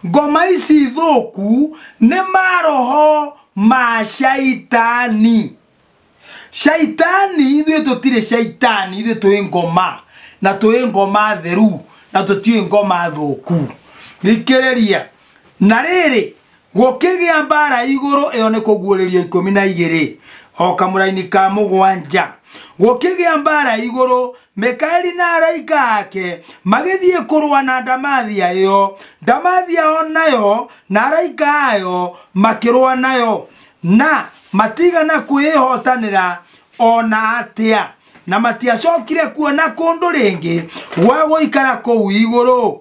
Ngoma ici thũku nĩ maroho ma caitani. Caitani, ithuĩ tũtirĩ caitani, ithuĩ twĩ ngoma, na twĩ ngoma theru, na tũtiũĩ ngoma thũku. Thikĩrĩria, na rĩrĩ, gũkĩgĩa mbara igũrũ, ĩyo nĩ kũguũrĩrio ikũmi na igĩrĩ, o kamũraini ka mũgwanja. Gũkĩgĩa mbara igũrũ Mikaeli na araika ake magĩthiĩ kũrũa na Ndamathia ĩyo, Ndamathia o nayo na araika ayo makĩrũa nayo, na matiigana kwĩĩhootanĩra o na atĩa, na matiacokire kuona kũndũ rĩngĩ gwa gũikara kũu igũrũ.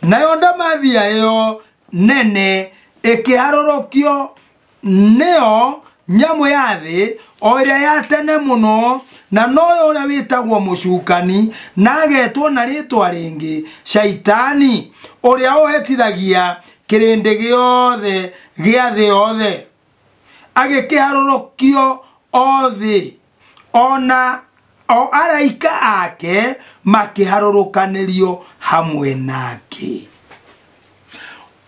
Nayo Ndamathia ĩyo nene ĩkĩharũrũkio nĩyo nyamũ ya thĩ o ĩrĩa ya tene mũno na noyo ũrĩa wĩtagwo mũcukani na agetwo na rĩtwa rĩngĩ shaitani ũrĩa ũhetithagia kĩrĩndĩ gĩothe gĩa thĩ yothe agĩkĩharũrũkio o thĩ ona o araika ake makĩharũrũkanĩrio hamwe nake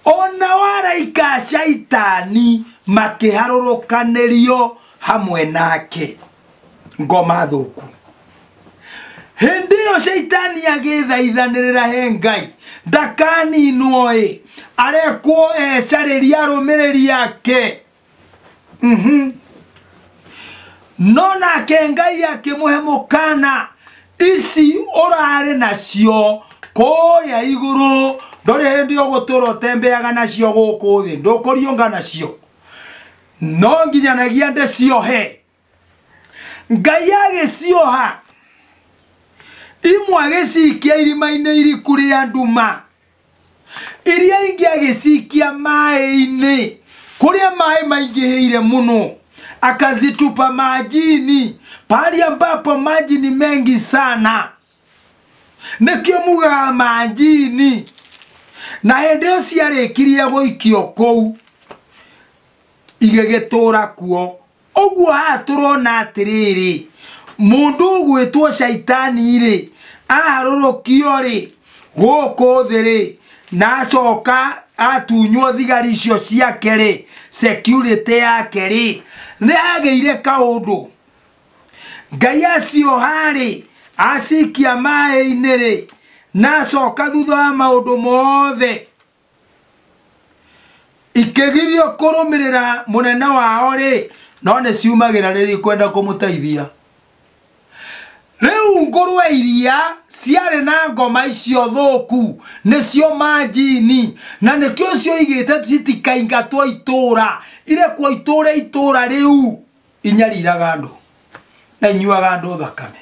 ona o araika a caitani makĩharũrũkanĩrio hamwe nake ngoma thũku hĩndĩ ĩyo caitani agĩthaithanĩrĩra he ngai ndakaninwo-ĩ arekwo ecarĩria arũmĩrĩri ake Mhm. no nake ngai akĩmũhe mũkana ici ũrarĩ nacio kũrĩa igũrũ ndũrĩ hĩndĩ ũgũtũra ũtembeaga nacio gũkũ thĩ ndũkũriũnga nacio no nginyanagia ndĩciohe ngai agĩcioha imwe agĩcikia irima-inĩ iriku rĩa nduma iria ingĩ agĩcikia maĩ-inĩ kũrĩa maĩ maingĩhĩire mũno akazitupa majini pahali ambapo maji ni mengi sana nĩkĩo mugaga majini na hĩndĩ ĩyo ciarĩkirie gũikio kũu igĩgĩtũra kuo ũguo haha tũrona atĩrĩrĩ mũndũ ũgwĩtwo caitani-rĩ aharũrũkio-rĩ gũkũ thĩ-rĩ na acoka atunywo thigari icio ciake-rĩ security yake-rĩ nĩ hagĩire kaũndũ ngai acioha-rĩ acikia maĩ-inĩ-rĩ na acoka thutha wa maũndũ mothe ikĩgirio kũrũmĩrĩra mũnene wao rĩ no nĩ ciumagĩra rĩrĩ kwenda kũmũteithia rĩu ngũrwe iria ciarĩ na ngoma icio thũku nĩcio manjini na nĩkĩo cioigĩte citikaingatwo itũũra irekwo itũũre itũũra rĩu inyariraga andũ na inyuaga andũ thakame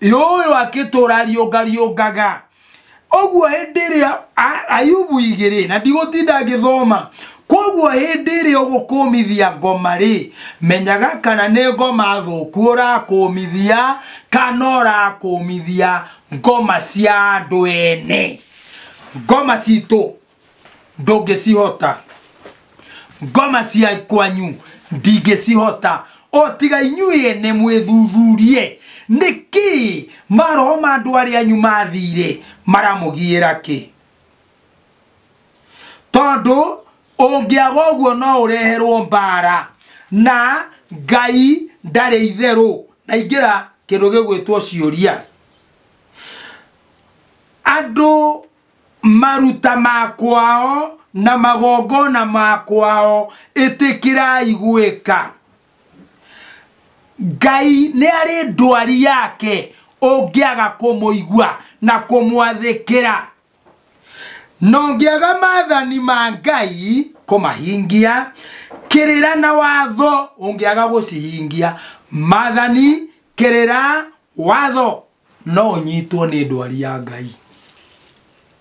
yũyũ akĩtũra riũnga riũngaga ũguo hĩndĩ ĩrĩa a- ayubu igĩrĩ na ndigũtinda ngĩthoma koguo hĩndĩ ĩrĩa ũgũkũmithia ngoma rĩ menyaga kana nĩ ngoma thũku ũrakũmithia kana ũrakũmithia ngoma cia andũ ene ngoma citũ ndũngĩcihota ngoma cia kwanyu ndingĩcihota o tiga inyuĩ ene mwĩthuthurie nĩkĩ maroho ma andũ arĩa anyu mathire maramũgiĩra kĩ tondũ ũngĩaga ũguo no ũreherwo mbara na ngai ndarĩ itherũ na ingĩra kĩndũ gĩgwĩtwo ciũria andũ maruta ma kwao na magongona ma kwao ĩtĩkĩrai gwĩka ngai nĩ arĩ ndwari yake ũngĩaga kũmũigua na kũmwathĩkĩra na ũngĩaga mathani ma ngai kũmahingia kĩrĩra na watho ũngĩaga gũcihingia mathani kĩrĩra watho no ũnyitwo nĩ ndwari ya ngai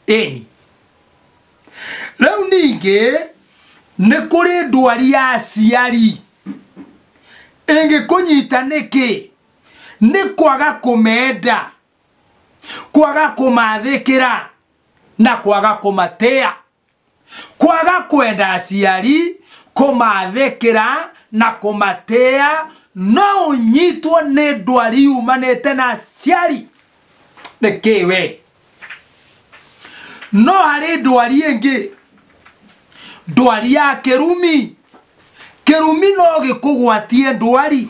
ĩni rĩu ningĩ nĩ kũrĩ ndwari ya aciari ĩngĩkũnyita nĩkĩ nĩ kwaga kũmenda kwaga kũmathĩkĩra na kwaga kũmatĩa kwaga kwenda aciari kũmathĩkĩra na kũmatĩa no ũnyitwo nĩ ndwari yumanĩte na aciari nĩ kĩ we no harĩ ndwari ĩngĩ ndwari ya kĩrumi kĩrumi no gĩkũgwatie ndwari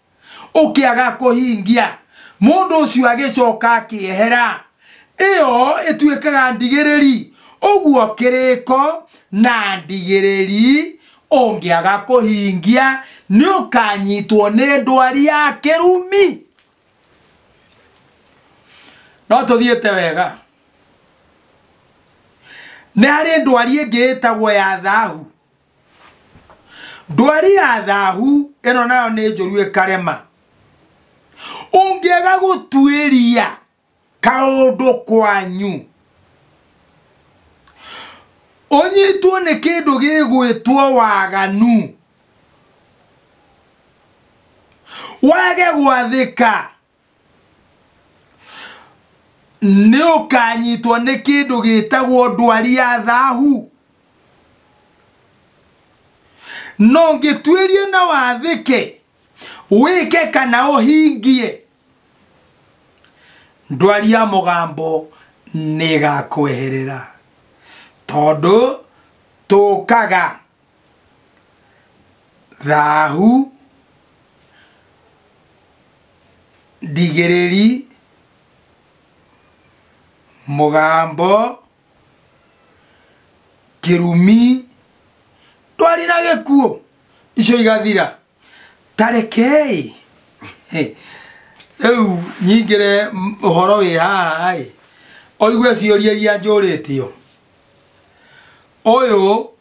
ũkĩaga kũhingia mũndũ ũcio agĩcoka akĩehera ĩyo ĩtuĩkaga ndigĩrĩri ũguo kĩrĩko na ndigĩrĩri ũngĩaga kũhingia nĩ ũkanyitwo nĩ ndwari ya kĩrumi no tũthiĩte wega nĩ harĩ ndwari ĩngĩ ĩtagwo ya thahu ndwari ya thahu ĩno nayo nĩ njũru ĩkarema ũngĩaga gũtuĩria kaũndũ kwanyu ũnyitwo nĩ kĩndũ gĩgwĩtwo waganu wage gwathĩka nĩ ũkanyitwo nĩ kĩndũ gĩtagwo ndwari ya thahu no ngĩtuĩrie na wathĩke wĩke kana ũhingie ndwari ya mũgambo nĩ ĩgakweherera tondũ tũkaga thahu ndigĩrĩri mũgambo kĩrumi ndwari na gĩkuũ icio igathira tarekei rĩu nyingĩre m- ũhoro wĩ haha ĩ oigue ciũria iria njũrĩtio ũyũ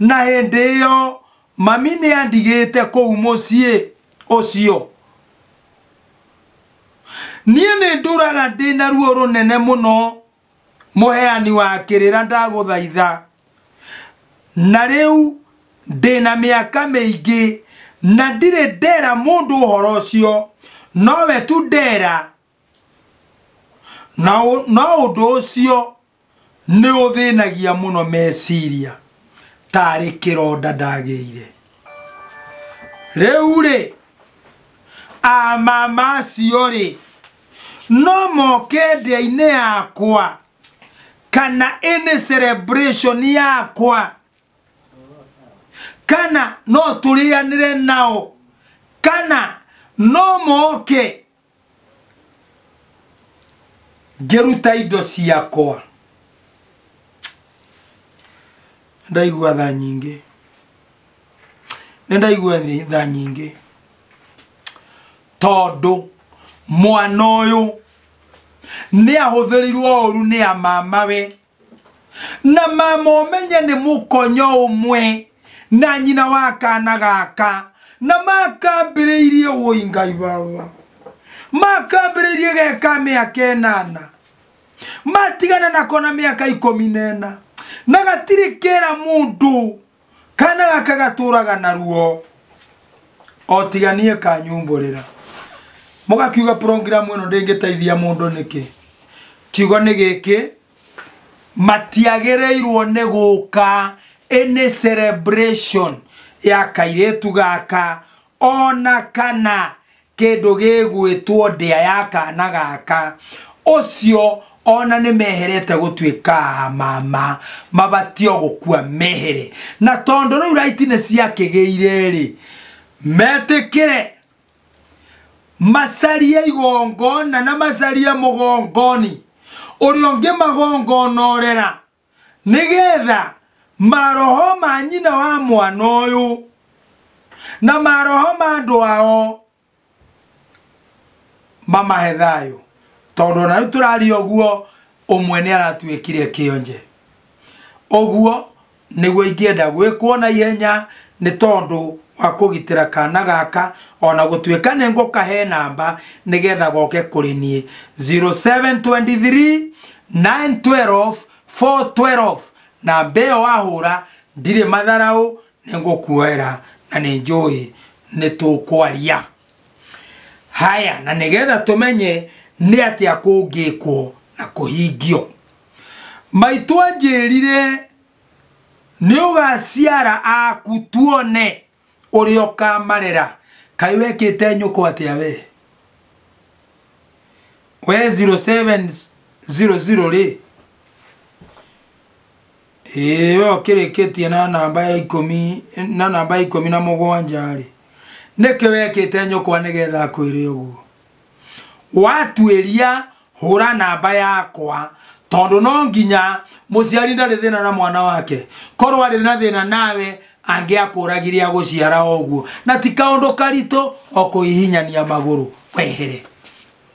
na hĩndĩ ĩyo mami nĩ andigĩte kũu mũciĩ ũcio niĩ nĩ ndũraga ndĩ na ruo rũnene mũno mũheani wa kĩrĩra ndagũthaitha na rĩu ndĩ na mĩaka mĩingĩ na ndirĩ ndera mũndũ ũhoro ũcio nowe tu ndera na ũ- no ũndũ ũcio nĩ ũthĩnagia mũno meciria tarĩ kĩronda ndagĩire rĩu rĩ amama acio rĩ no moke ndĩa-inĩ yakwa kana ĩnĩ celebration yakwa kana no tũrĩanĩre nao kana no moke ngĩruta indo ciakwa ndaigua tha nyingĩ nĩ ndaigua thĩ- tha nyingĩ tondũ mwana ũyũ nĩ ahũthĩrirwo ũru nĩ a mamawe na mama ũmenye nĩ mũkonyo ũmwe na nyina wa kana gaka na makambĩrĩirie wũi ngai wawa makambĩrĩirie geka mĩaka ĩnana matigana nako na mĩaka ikũmi na ĩna na gatirĩ kĩra mũndũ kana gaka gatũraga naruo otiganie kanyumbũrĩra mũgakiuga program ĩno ndĩngĩteithia mũndũ nĩkĩ kiugo nĩ gĩkĩ matiagĩrĩirwo nĩ gũka ĩnĩ celebration ya kairĩtu gaka O na kana kĩndũ gĩgwĩtwo ndĩa ya kaana gaka, ũcio o na nĩmeherete gũtuĩka a mama, mabatio gũkua mehere. Na tondũ rĩu right nĩciakĩgĩire-rĩ, metĩkĩre macarie igongona na macarie mũgongoni ũrĩa ũngĩmagongonorera. nĩgetha maroho ma nyina wa mwana ũyũ na maroho ma andũ ao mamahe thayũ tondũ ona rĩu tũraria ũguo ũmwe nĩ aratuĩkire kĩonje ũguo nĩguo ingĩenda gwĩkwo na ihenya nĩ tondũ wa kũgitĩra kana gaka ona gũtuĩka nĩ ngũkahe namba nĩgetha goke kũrĩ niĩ 0723 912 412 na mbeo wahũra ndirĩ matharaũ nĩ ngũkuoera na nĩ njũĩ nĩ tũkwaria haya na nĩgetha tũmenye nĩ atĩa kũngĩkwo na kũhingio maitũ anjĩrire nĩ ũgaciara aku tuone ũrĩa ũkamarera kaĩ wekĩte nyũkwa atĩa we we 0700 rĩ ĩĩ we ũkĩrĩkĩtie na namba ya ikũmi na namba ya ikũmi na mũgwanja rĩ nĩkĩ wekĩte nyũkwa nĩgetha akwĩre ũguo watuĩria hũra namba yakwa tondũ no nginya mũciari ndarĩ thĩna na mwana wake korwo arĩ na thĩna nawe angĩakũragire agũciara o ũguo na ti kaũndũ karitũ o kũhihinyania magũrũ wehere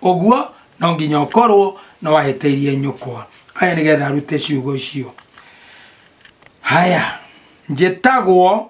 ũguo no nginya ũkorwo nĩ wahĩtĩirie nyũkwa aya nĩgetha arute ciugo icio haya njĩtagwo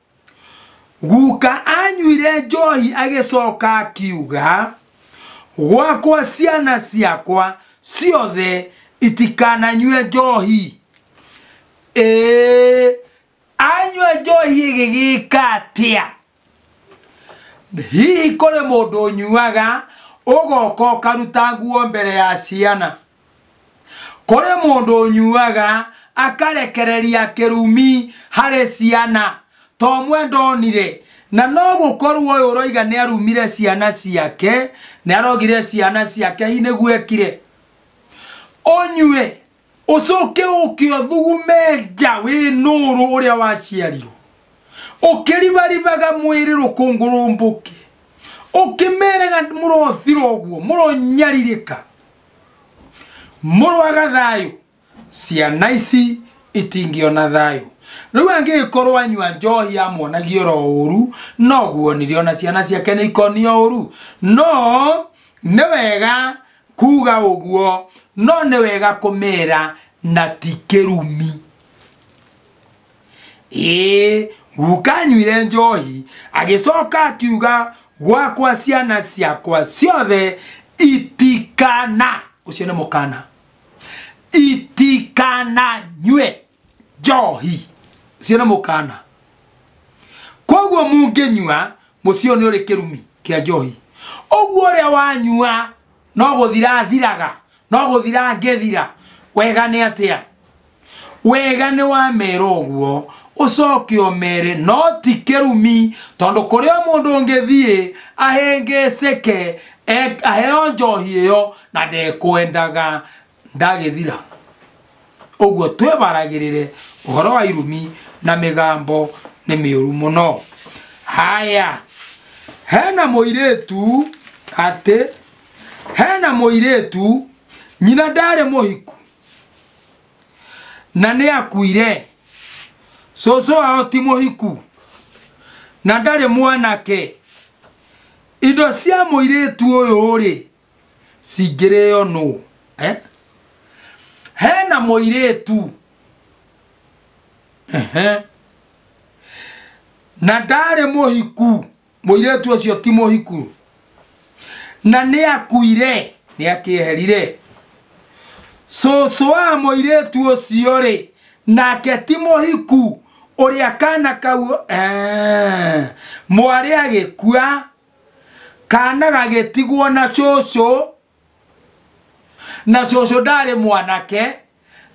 Guka anyuire njohi agĩcoka akiuga, gwakwa ciana ciakwa ciothe itikananyue njohi. Ee, anyua njohi ĩgĩgĩka atĩa? Hihi kũrĩ mũndũ ũnyuaga ũgoka ũkaruta nguo mbere ya ciana? Kũrĩ mũndũ ũnyuaga akarekereria kĩrumi harĩ ciana, to mwe ndonire, na no gũkorwo ũyũ ũroiga nĩ arumire ciana ciake, nĩ arogire ciana ciake, hihi nĩguo ekire? Ũnyue, ũcoke ũke ũthugume nja wĩ nũrũ ũrĩa waciarirwo, ũkĩribaribaga mwĩrĩ rũkũngũ rũmbũke, ũkĩmeraga mũrothira ũguo, mũronyarirĩka, mũrwaga thayũ ciana ici itingĩona thayũ rĩu angĩgĩkorwo anyua njohi amonagia oro ũru noguo nire ona ciana ciake nĩ ikonia ũru no nĩ wega kuga ũguo no nĩ wega kũmera na ti kĩrumi ĩĩ guka anywire njohi agĩcoka akiuga gwakwa ciana ciakwa ciothe itikana ũcio nĩ mũkana itikana nyue njohi ũcio nĩ mũkana koguo mũngĩnyua mũciĩ ũyũ nĩ ũrĩ kĩrumi kĩa njohi ũguo ũrĩa wanyua no gũthira athiraga no gũthira angĩthira wega nĩ atĩa wega nĩwamera ũguo ũcoke ũmere no ti kĩrumi tondũ kũrĩa mũndũ ũngĩthiĩ ahĩngĩcĩke e- aheo njohi ĩyo na ndekwendaga ndagĩthira ũguo twĩbaragĩrĩre ũhoro wa irumi na mĩgambo nĩ mĩũru mũno haya hena mũirĩtu atĩ hena mũirĩtu nyina ndarĩ mũhiku na nĩ akuire cũcũ wao ti mũhiku na ndarĩ mwanake indo cia mũirĩtu ũyũ rĩ cingĩrĩo nũ eh? hena mũirĩtu Ehe. na ndarĩ mũhiku mũirĩtu ũcio ti mũhiku na nĩ akuire nĩ akĩeherire cũcũ wa mũirĩtu ũcio rĩ nake ti mũhiku ũrĩa kana kau eh, mwarĩ agĩkua kana gagĩtigwo na cũcũ na cũcũ ndarĩ mwanake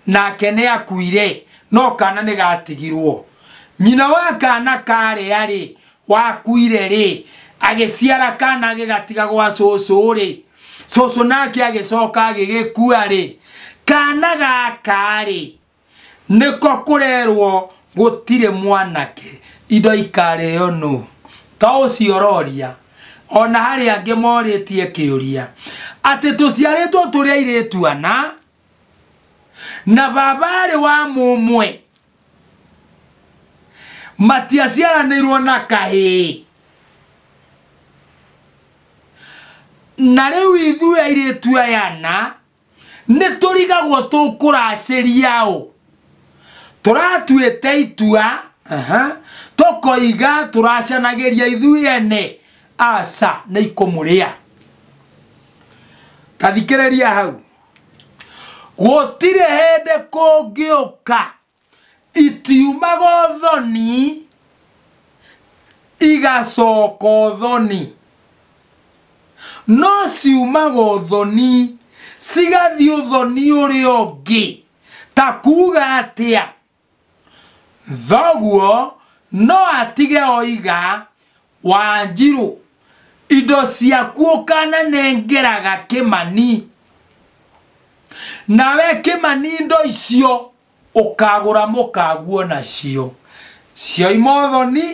nake nĩ akuire no kana nĩ gatigirwo nyina wa kana karĩa rĩ wakuire rĩ agĩciara kana agĩgatiga gwa cũcũ rĩ cũcũ nake agĩcoka agĩgĩkua rĩ kana gaka rĩ nĩko kũrerwo gũtirĩ mwanake indo ikarĩo nũ to ũcio ũroria ona harĩ angĩ morĩtie kĩũria atĩ tũciarĩtwo tũrĩ airĩtu ana na baba arĩ wa mũmwe matiaciaranĩirwo na kahĩĩ na rĩu ithuĩ airĩtu aya ana nĩ tũrigagwo tũkũracĩria ũ tũratuĩte itua aha, tũkoiga tũracanagĩria ithuĩ ene aca nĩ ikũmũrĩa tathikĩrĩria hau gũtirĩ hĩndĩ kũngĩũka itiumaga ũthoni igacoka ũthoni no ciumaga ũthoni cigathiĩ ũthoni ũrĩa ũngĩ ta kuga atĩa thoguo no atige oiga wanjirũ indo ciaku ũkananengeraga kĩmani nawe kĩmani indo icio ũkagũra mũkaguo nacio cioima ũthoni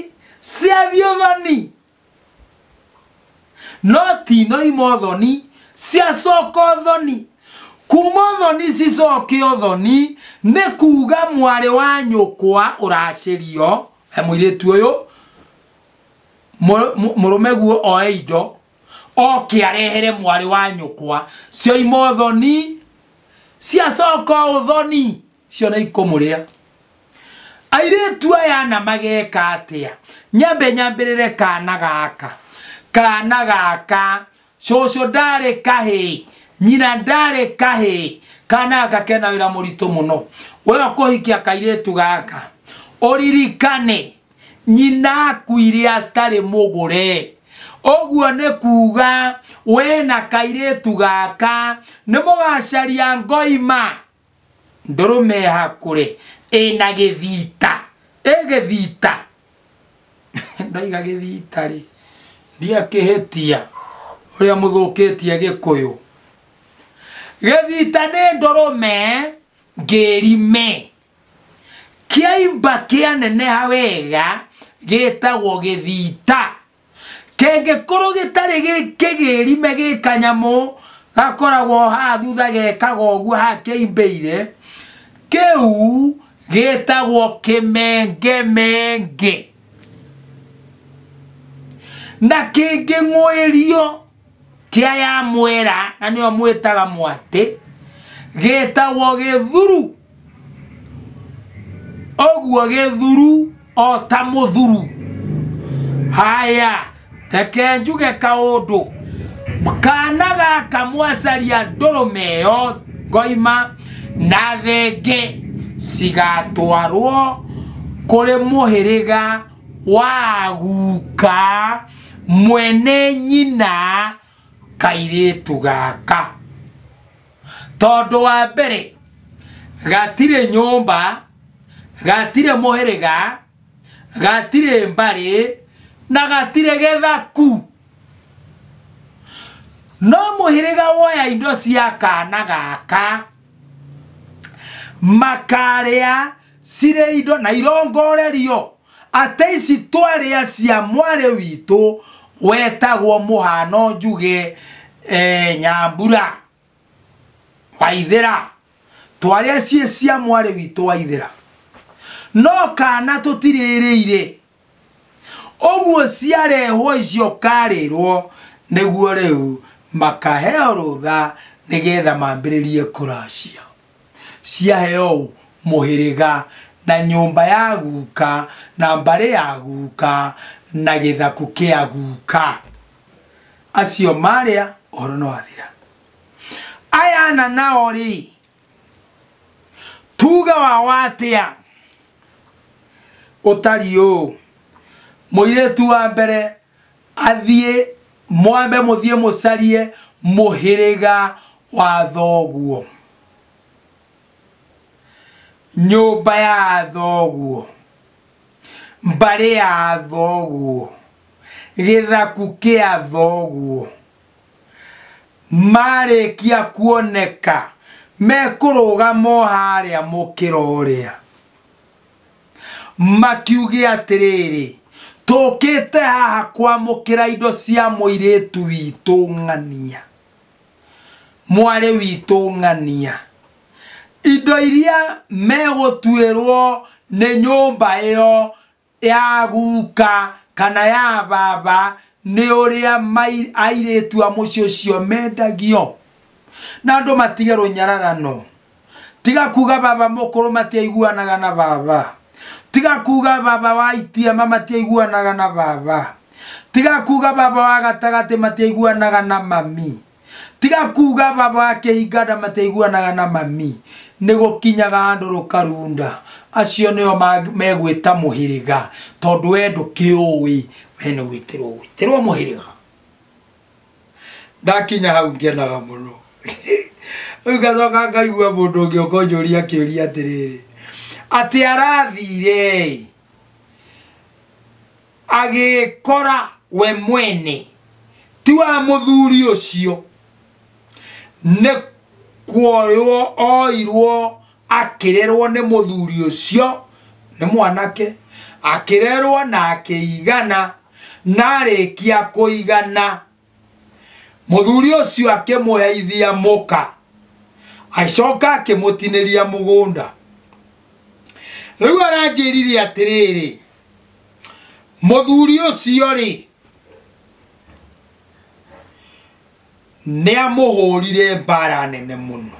ciathiĩ ũthoni no tinoima ũthoni ciacoka ũthoni kuma ũthoni cicoke ũthoni nĩ kuga mwarĩ wa nyũkwa ũracĩrio he mũirĩtu ũyũ mũrũme guo oe indo oke arehere mwarĩ wa nyũkwa cioima ũthoni ciacoka ũthoni cio nĩ ikũmũrĩa airĩtu aya na mageka atĩa nyambe nyambĩrĩre kana gaka kana gaka cũcũ ndarĩ kahĩ nyina ndarĩ kahĩ kana gakena wĩra mũritũ mũno we ũkũhikia kairĩtu gaka ũririkane nyina akuire atarĩ mũgũre ũguo nĩ kuuga we na kairĩtu gaka nĩ mũgacaria ngoima ndũrũme ya kũrĩ ĩna gĩthita ĩ gĩthita ndaiga gĩthita rĩ ndiakĩhĩtia ũrĩa mũthũkĩtie gĩkũyũ gĩthita nĩ ndũrũme ngĩrime kĩaimba kĩaneneha wega gĩtagwo gĩthita kĩngĩkorwo gĩtarĩ gĩ- kĩgĩrime gĩ kanyamũ gakoragwo haha thutha gekaga ũguo haha kĩimbĩire kĩu gĩtagwo kĩmengemenge na kĩngĩng'ũĩrio kĩa ya mwera na nĩo mwĩtaga mwatĩ gĩtagwo gĩthuru ũguo gĩthuru o ta mũthuru haya reke njuge kaũndũ kana gaka mwacaria ndũrũme ĩyo ngoima na thenge cigatwarwo kũrĩ mũhĩrĩga wa guka mwene nyina kairĩtu gaka tondũ wa mbere gatirĩ nyũmba gatirĩ mũhĩrĩga gatirĩ mbarĩ na gatirĩ gĩthaku no mũhĩrĩga woya indo cia kana gaka makarĩa cirĩ indo na irongorerio atĩ ici twarĩa cia mwarĩ witũ wetagwo mũhano njuge e, nyambura waithĩra twarĩa ciĩ cia mwarĩ witũ waithĩra no kana tũtirĩrĩire Oguosia rĩhwo icio karĩrwo nĩguo rĩu makaheo rũtha nĩgetha mambĩrĩrie kũra ciao. Ciaheo ũ? Mũhĩrĩga na nyũmba ya guka na mbarĩ ya guka na gĩthakũ kĩa guka. Acio marĩa ũhoro nĩ wathira. Aya ana nao rĩ, tuge wao atĩa? ũtari ũũ mũirĩtu wa mbere athiĩ mwambe mũthiĩ mũcarie mũhĩrĩga wa thoguo nyũmba ya thoguo mbarĩ ya thoguo gĩthaku kĩa thoguo marĩkia kuoneka mekũrũgama o harĩa mũkĩra ũrĩa makiuge atĩrĩrĩ tũkĩte haha kwamũkĩra indo cia mũirĩtu witũ ng'ania mwarĩ witũ ng'ania indo iria megũtuĩrwo nĩ nyũmba ĩyo ya guka kana ya baba nĩ ũrĩa mai- airĩtu a mũciĩ ũcio mendagio na andũ matige rũnyararano tiga kuga baba mũkũrũ matiaiguanaga na baba tiga kuga baba wa itiama matiaiguanaga na baba tiga kuga baba wa gatagatĩ matiaiguanaga na mami tiga kuga baba wa kĩhinga nda mataiguanaga na mami nĩ gũkinyaga handũ rũkarunda acio nĩo mag- megwĩta mũhĩrĩga tondũ we ndũkĩũĩ we nĩ gwĩtĩrwo gwĩtĩrwo mũhĩrĩga ndakinya hau ngenaga mũno rĩu ngacoka ngaigua mũndũ ũngĩ ũkonjũria kĩũria atĩrĩrĩ atĩ arathire agĩkora we mwene ti wa mũthuri ũcio nĩ kuoywo oirwo akĩrerwo nĩ mũthuri ũcio nĩ mwanake akĩrerwo na akĩigana na arĩkia kũigana mũthuri ũcio akĩmũheithia mũka agĩcoka akĩmũtinĩria mũgũnda rĩu aranjĩrire atĩrĩrĩ mũthuri ũcio rĩ nĩamũhũrire mbara nene mũno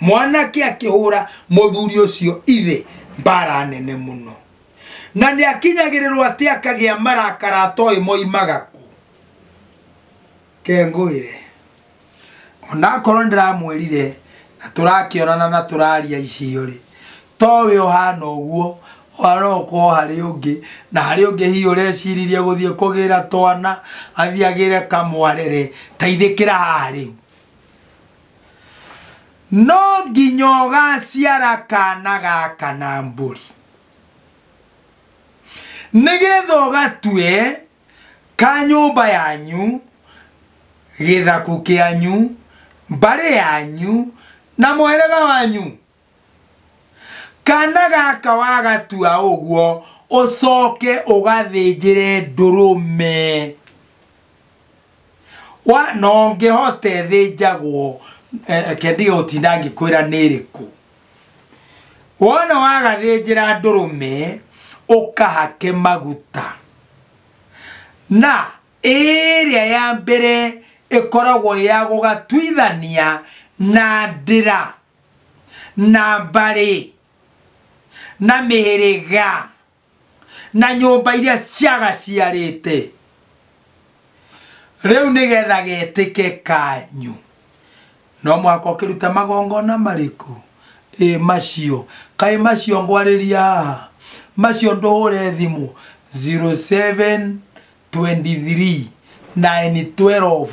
mwanake akĩhũra mũthuri ũcio ithe mbara nene mũno na nĩakinyagĩrĩrwo atĩ akagĩa marakara atoĩ moimaga kũ kengũĩre onakorwo nĩ ndĩramwĩrire na tũrakĩonana na tũraria icio rĩ towe ũhana ũguo arokorwo harĩ ũngĩ na harĩ ũngĩ hihi ũreciririe gũthiĩ kũgĩra twana athiĩ agĩre kamwarere taithĩkĩra haha rĩu no nginya ũgaciara kana gaka na mbũri nĩgetha ũgatue ka nyũmba yanyu, gĩthaku kĩanyu, mbarĩ yanyu, na mũhĩrĩga wanyu. Kana gaka wagatua ũguo, ũcoke ũgathĩnjĩre ndũrũme. Wa, no ngĩhote thĩnjagwo, eh, reke ndige gũtinda ngĩkwĩra nĩ ĩrĩkũ. wona wagathĩnjĩra ndũrũme ũkahake maguta na ĩrĩa ya mbere ĩkoragwo ya gũgatuithania na ndĩra na mbarĩ na mĩhĩrĩga na nyũmba iria ciagaciarĩte rĩu nĩgetha getĩke kanyu no mũhaka ũkĩrute magongona marĩkũ ĩ macio kaĩ macio ngwarĩria haha macio ndũhũre thimũ 07 23 9 12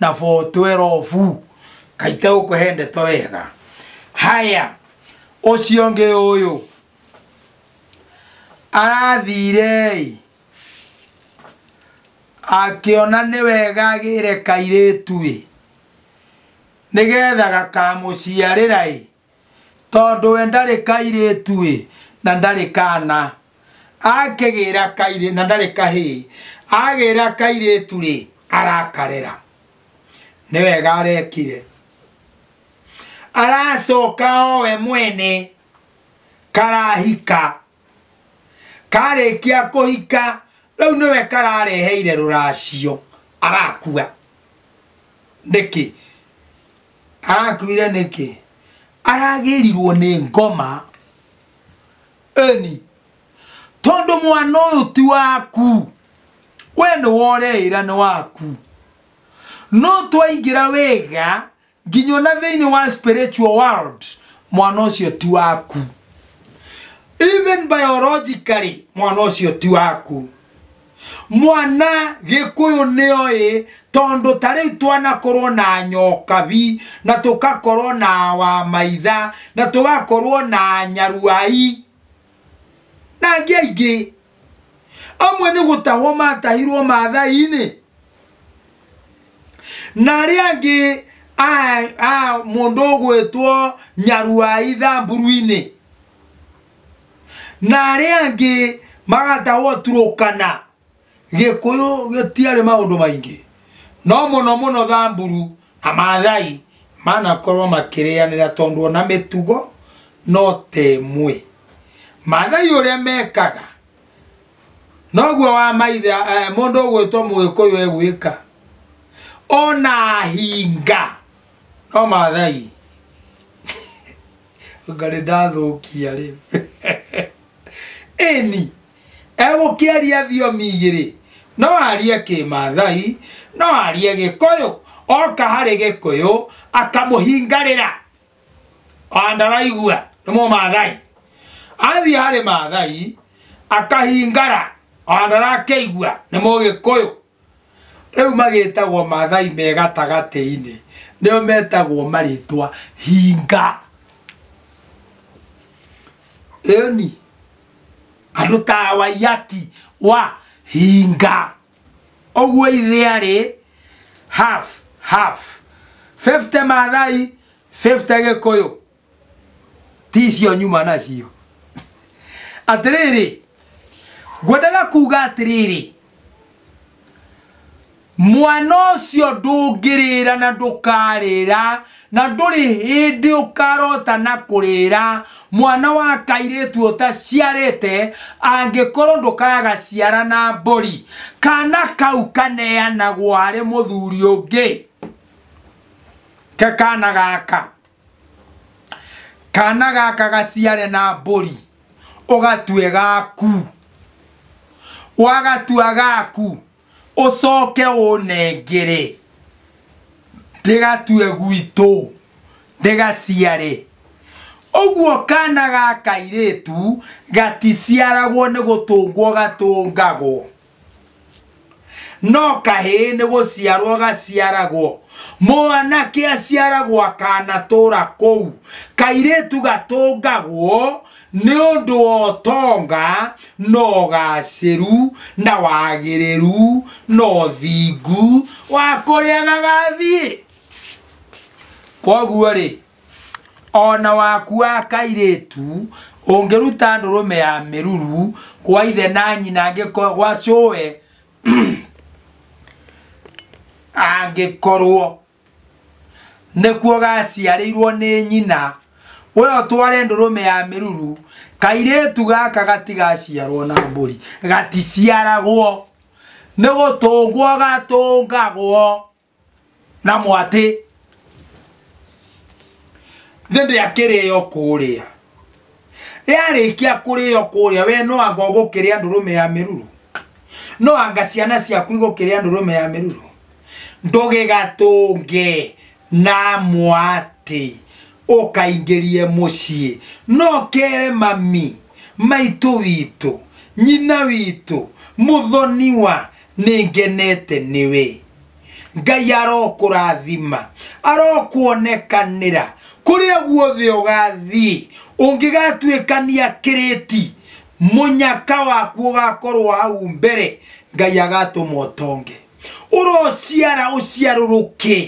na 412 kaite gũkũhe ndeto wega haya ũcio ũngĩ ũyũ Arathiire-ĩ, akĩona nĩ wega agĩre kairĩtu-ĩ, nĩgetha gakamũciarĩra-ĩ, tondũ we ndarĩ kairĩtu-ĩ, na ndarĩ kana, akĩgĩra kairĩtu, na ndarĩ kahĩĩ, agĩra kairĩtu-rĩ, arakarera, nĩ wega arekire. Aracoka o we mwene karahika karĩkia kũhika rĩu nĩwe karareheire rũracio arakua nĩkĩ arakuire nĩkĩ aragĩrirwo nĩ ngoma eni tondũ mwana ũyũ ti waku we nĩ woreĩra nĩ waku no twaingĩra wĩga nginya ona thĩinĩ wa spiritual world mwana ũcio ti waku even biologically mwana ũcio ti waku mwana gĩkũyũ nĩoĩ tondũ ta rĩu twanakorwo na nyokabi na tũkakorwo na wamaitha na tũgakorwo na nyaruai na angĩ aingĩ amwe nĩ gũtahwo matahirwo mathai-inĩ na arĩa angĩ a- a mũndũ ũgwĩtwo nyaruai thamburu-inĩ na arĩa angĩ magatahwo turũkana gĩkũyũ gĩtiarĩ maũndũ maingĩ no mũno mũno thamburu na mathai manakorwo makĩrĩanĩra tondũ ona mĩtugo no ta ĩmwe mathai ũrĩa mekaga noguo wa maitha eh, mũndũ ũgwĩtwo mũgĩkũyũ egwĩka ona hinga no mathai ngarĩ ndathũkia rĩu ĩni Egũkĩaria thiomi igĩrĩ, no arie kĩmaathai, no arie gĩkũyũ, oka harĩ gĩkũyũ akamũhingarĩra. And araigua nĩ mũmaathai. Athiĩ harĩ maathai akahingara and arakĩigua nĩ mũgĩkũyũ. rĩu magĩtagwo mathai me gatagatĩ-inĩ nĩo metagwo marĩtwa hinga ĩni andũ ta waiyaki wa hinga ũguo ithe arĩ half half 50 mathai 50 gĩkũyũ ti icio nyuma nacio atĩrĩrĩ ngwendaga kuga atĩrĩrĩ mwana ũcio ndũngĩrĩra na ndũkarĩra na ndũrĩ hĩndĩ ũkarota na kũrĩra mwana wa kairĩtu ũtaciarĩte angĩkorwo ndũkaga ciara na mbũri kana kau kaneanagwo harĩ mũthuri ũngĩ ke kana gaka kana gaka gaciare na mbũri ũgatue gaku wagatua gaku ũcoke ũnengere ndĩgatue gwitũ ndĩgaciare ũguo kana ga kairĩtu gaticiaragwo nĩ gũtũngwo gatũngagwo no kahĩĩ nĩ gũciarwo gaciaragwo mwanake aciaragwo akanatũra kũu kairĩtu gatũngagwo nĩ ũndũ wa ũtonga na ũgacĩru na wagĩrĩru na ũthingu wa kũrĩa gagathiĩ koguo rĩ o na waku wa kairĩtu ũngĩruta ndũrũme ya mĩruru gwa ithe na nyina angĩko- gwa cũwe angĩkorwo nĩkuo gaciarĩirwo nĩ nyina we ũtware ndũrũme ya mĩruru kairĩtu gaka gatigaciarwo na mbũri gaticiaragwo nĩ gũtũngwo gatũngagwo na mwatĩ nĩ ndĩakĩrĩo kũrĩa yarĩkia kũrĩo kũrĩa we no anga ũgũkĩrĩa ndũrũme ya mĩruru no anga ciana ciaku igũkĩrĩa ndũrũme ya mĩruru ndũgĩgatũnge na mwatĩ ũkaingĩrie mũciĩ no kere mami maitũ witũ nyina witũ mũthoniwa nĩ ngenete nĩwe ngai arokũrathima arokuonekanĩra kũrĩa guothe ũgathiĩ ũngĩgatuĩkania kĩrĩti mũnyaka waku ũgakorwo hau mbere ngai agatũma ũtonge ũrociara ũciarũrũke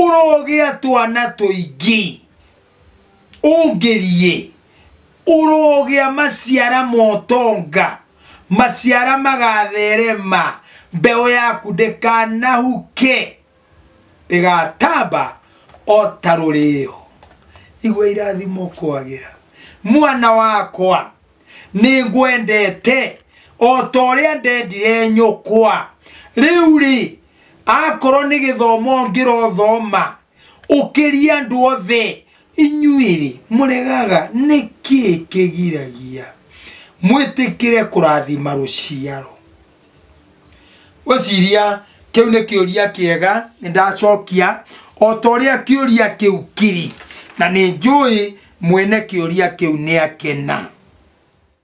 ũrogĩa twana tũingĩ ũngĩriĩ ũrogĩa maciara motonga maciara magatherema mbeũ yaku ndĩkanahuke ĩgatamba o ta rũrĩo igua irathimo kwagĩra mwana wakwa nĩ ngwendete o ta ũrĩa ndendire nyũkwa rĩu rĩ akorwo nĩ gĩthomo ngĩrothoma ũkĩria andũ othe inyuĩ-rĩ mũregaga nĩ kĩĩ kĩgiragia mwĩtĩkĩre kũrathima rũciaro ũciria kĩu nĩ kĩũria kĩega nĩ ndacokia o ta ũrĩa kĩũria kĩu kiri na nĩ njũĩ mwene kĩũria kĩu nĩ akena